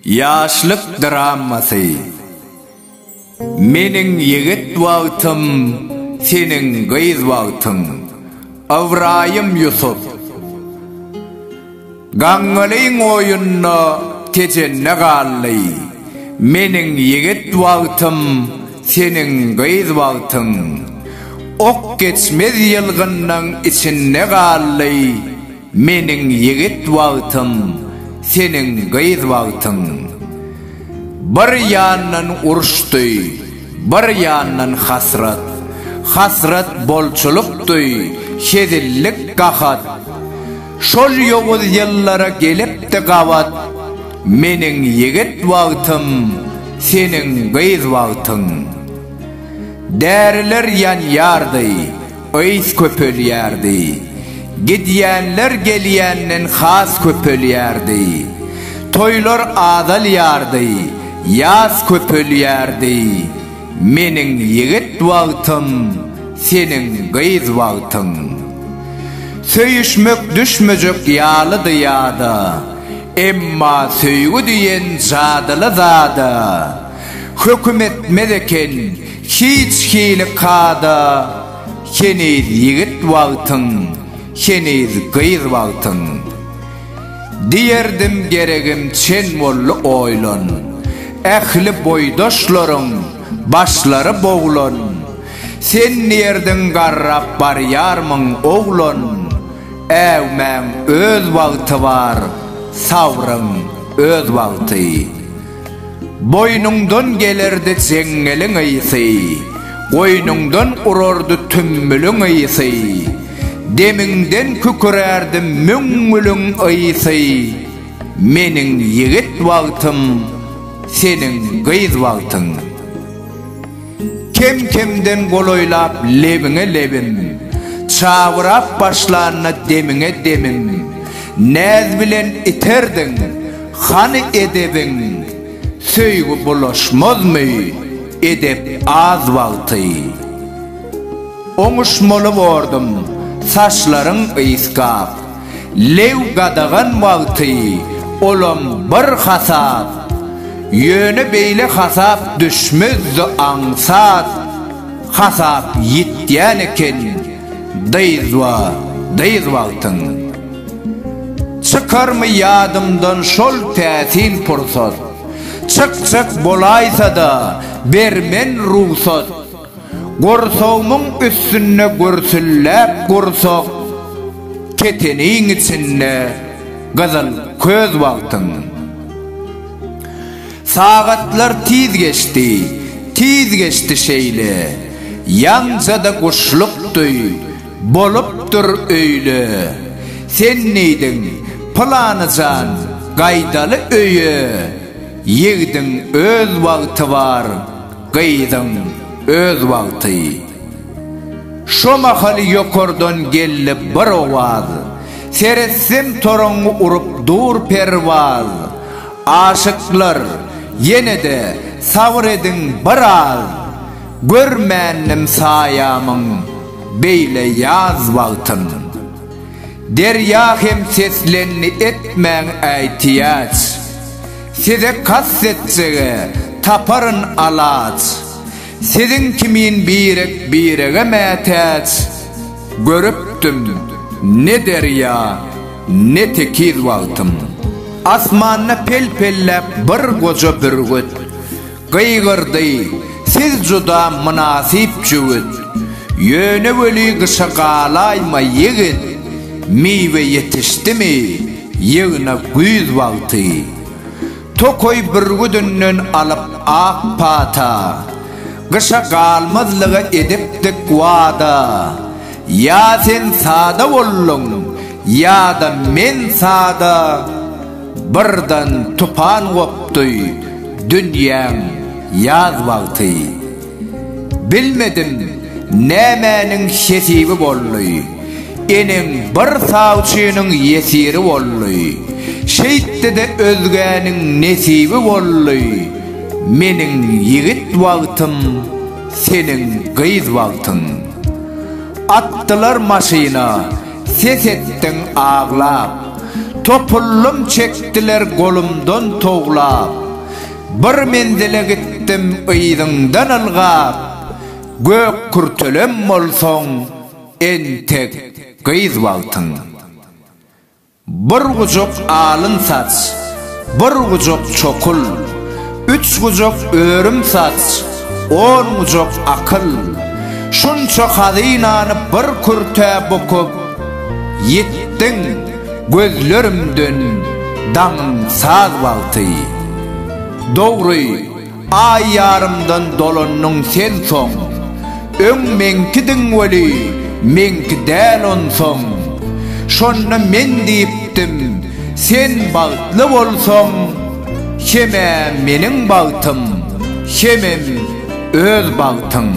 Ýaşlyk dramasy Meniň ýigit wagtym, seniň gyz wagtyň. Ybraýym Ýusup. Gaňňalyň oýunda tejenne galdy. Meniň ýigit wagtym, seniň gyz wagtyň. Ok geçmez ýylgynnyň içinde galdy. Meniň ýigit wagtym, seniň gyz wagtyň. Bir ýandan uruşdy, bir ýandan hasrat. Hasrat bolçulykdy, hezillik gahat. Şol ýowuz ýyllara gelipdi gabat, Meniň ýigit wagtym, seniň gyz wagtyň. Däriler ýanýardy, ys köpelýärdi, Gidýänler gelýänden has köpelýärdi. Toýlar azalýardy, ýas köpelýärdi. Meniň ýigit wagtym, seniň gyz wagtyň. Söýüşmek düşmejek ýalydy ýada, Emma söýgi diýen jadyly zada, Höküm etmez eken hiç hili kada, Heniz ýigit wagtyň, heniz gyz wagtyň. Diýerdim geregim çen boldy oýlan, Ähli boýdaşlaryň başlary boglan, Sen diýerdiň garrap barýarmyň oglan, Äwmäň öz wagty bar, sabryň öz wagty. Boýnuňdan gelerdi jeňňeliň ysy, Goýnuňdan urardy tümmüliň ysy, Demiňden kükürärdi müňňüliň ysy, Meniň ýigit wagtym, seniň gyz wagtyň. Kem-kemden golaýlap lebiňe lebim, Çabyrap başlanda demiňe demim, Näz bilen iterdiň, hany edebiň, Söýgi bulaşmazmy, edep az wagty. Oňuşmaly bordum, saçlaryň ysgap. Lew gadagan wagty olam bir hasap, Ýöne beýle hasap düşmezdi aňsat, Hasap ýitýän eken dyzba dyz wagtyň. Çykarmy ýadymdan şol täsin pursat, Çykjak bolaýsa-da bermen rugsat, Gursagymyň üstünde gürsülläp gursak, Keteniň içinde gyzyl köz wagtyň. Sagatlar tiz geçdi, tiz geçdi şeýle, Ýaňja-da guşluk duý, bolupdyr öýle. Sen diýdiň, Pylany jan, gaýdaly öýe, Ýigdiň öz wagty bar, Gyzyň öz wagty. Şo mahaly ýokardan geldi bir owaz, Seretsem toraňňy urup dur perwaz. Aşyklar, ýene-de sabyr ediň bir az, Görmändim saýamyň beýle ýaz wagtyn. Derýa hem seslendi etmäň äýtiýaç. Size kast etsege, taparyn alaç, Siziň kimin birek birege mätäç. Görüpdim, ne derýa, ne tekiz wagtym, Asmanda pel-pelläp bir goja bürgüt. Gygyrdy, Siz juda mynasyp jübüt. Ýöne weli gyşa galaýma, ýigit. Miwe ýetişdimi, ýygna güýz wagty. Tokaý bürgüdinden alyp ak pata. Gyşa galmazlyga edipdik wada. Ýa sen sada bolduň, ýa-da men sada. Birden tupan gopdy dünýäň ýaz wagty. Bilmedim nämäniň hesibi boldy. Eneň bir sawçynyň ýesiri boldy. Şeýtdi-de özgäniň nesibi boldy. Meniň ýigit wagtym, seniň gyz wagtyň. Atdylar maşyna. Ses etdiň aglap. Topullym çekdiler golumdan towlap. Bir menzile gitdim yzyňdan ylgap. Gök kürtelem bolsaň, entek gyz wagtyň. Bir gujak alyn saç. Bir gujak çokul, üç gujak örüm saç, on gujak akyl, şunça hazynany bir kürtä bukup, ýitdiň, gözlerimden daňyň saz wagty. Dogry. Aý ýarymdan dolandyň sen soň, Öň meňkidiň weli, meňki däl onsoň. Şonda men diýipdim, sen bagtly bolsaň, Hem-ä meniň bagtym, hemem öz bagtyň.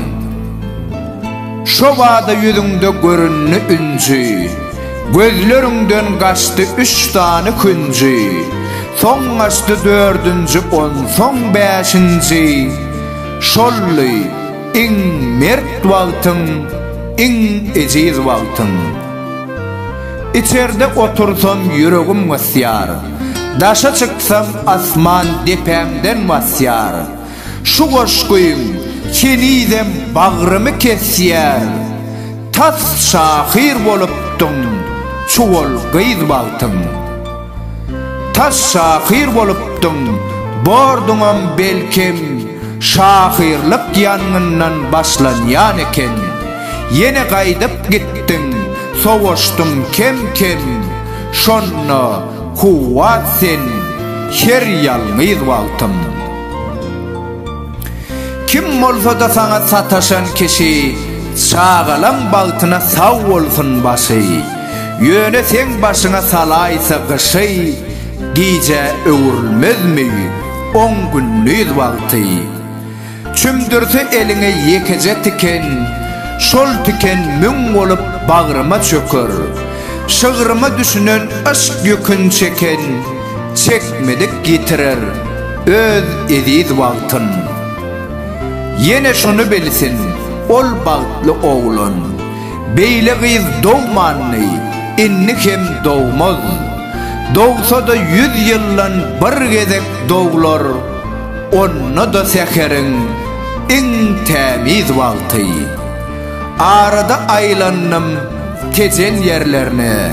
Şobada ýüzüňde göründi ünsi. Gözleriňden gaçdy üç sany künji, Soň gaçdy dördünji, onsoň bäşinji. Şoldy iň mert wagtyň, iň ejiz wagtyň. Içerde otursam ýüregim gysýar, Daşa çyksam asman depämden basýar. Şu goşgyň henizem bagrymy kesýär, Tas şahyr bolupdyň çuwal gyz wagtyň. Tas şahyr bolupdyň, borduňam belkem, Şahyrlyk ýangyndan başlanýan eken. Ýene gaýdyp gitdiň, sowaşdyň kem-kem, Şonda kuwwat sen her ýalňyz wagtyň. Kim bolsada saňa sataşan kişi Çagalaň bagtyna sag bolsun başy Ýöne seň başyňa salaýsa gyşy Gijä öwrülmezmi on gündiz wagty Çümdürse eliňe ýekeje tiken Şol tiken müň bolup bagryma çöker Şygryma düşünen yşk ýükün çeken Çekmedik ýitirer öz eziz wagtyn. Ýene şuny bilsin, ol bagtly oglan, Beýle gyz dogmandy, indi hem dogmaz. Dogsa-da ýüz ýyldan bir gezek doglar, Onda-da säheriň iň tämiz wagty. Arada aýlandym Tejen ýerlerine,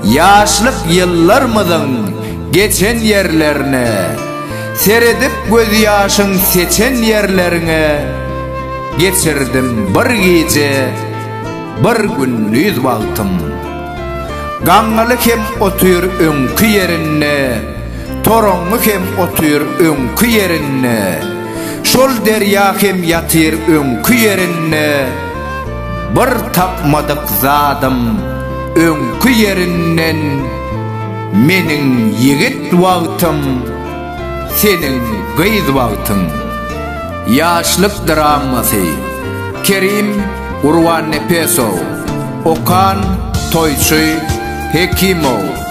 Ýaşlyk ýyllarmyzyň geçen ýerlerine, Seredip gözýaşyň seçen ýerleriňe, Geçirdim bir gije, bir gündiz wagtym. Gaňňaly hem otyr öňki ýerinde, Toraňňy hem otyr öňki ýerinde. Şol derýa hem ýatyr öňki ýerinde Bir tapmadyk zadym öňki ýerinden Meniň ýigit wagtym seniň gyz wagtyň Ýaşlyk dramasy Kerim Gurbannepesow Okan Toýçy Hekimow.